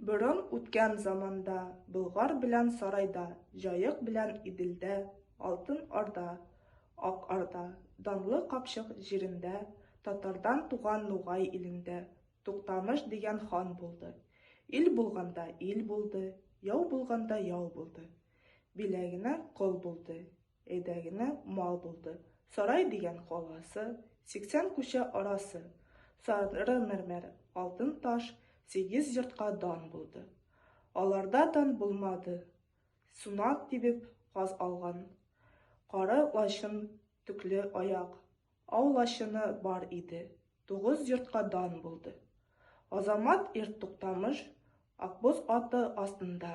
Борын үткән заманда Болгар белән Сарайда, Җаек белән Иделдә, Алтын Орда, Ак Орда, Данлы Капчык җирендә, Татардан туган Нугай илендә Туктамыш дигән хан булды. Ил булганда ил булды, Яу булганда яу булды. Биләгенә кол булды, Әйдә генә мал булды. Сарай дигән каласы, Сиксән күчә арасы. Сары мәрмәр, алтын таш, Сигез йортка дан булды. Аларда дан булмады, Сунак тибеп каз алган. Кары лачын, төкле аяк, Ау лачыны бар иде. Тугыз йортка дан булды. Азамат ир Туктамыш, Акбоз аты астында,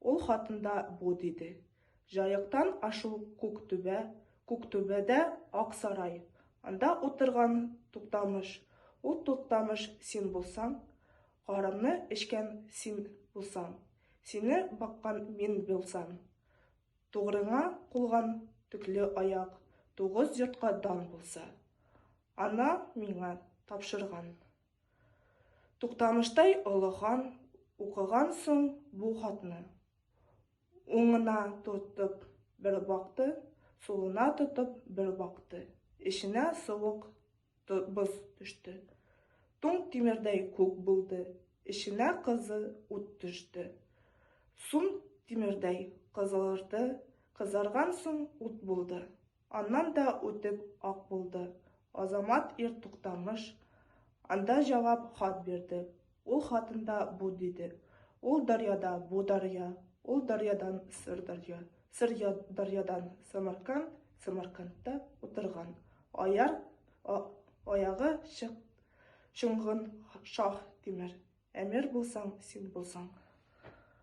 Ул хатында бу диде. Җаектан ашу күк түбә, күк түбәдә ак сарай, анда утырган Туктамыш, ул Туктамыш син булсаң, карымны эчкән син булсаң, сине баккан мин булсам, тугрыңа кулган төкле аяк тугыз йортка дан булса, ана миңа тапшырган. Туктамыштай олы хан укыган соң бу хатны, уңына тотып бер бакты, сулына тотып бер бакты, эченә суык боз төште. Туң тимердәй күк булды, эченә кызы ут төште. Сум тимердәй кызылырды, кызарган соң ут булды. Аннан да үтеп ак булды. Азамат ир Туктамыш анда җавап хат бирде. Ул хатында бу диде, Ул дарьяда бу дарья, ул дарьядан сыр дарья, сыр дарьядан Самарканд, Самаркандта утырган аяр аягы чык чыңгын шах тимер әмир булсаң син булсаң.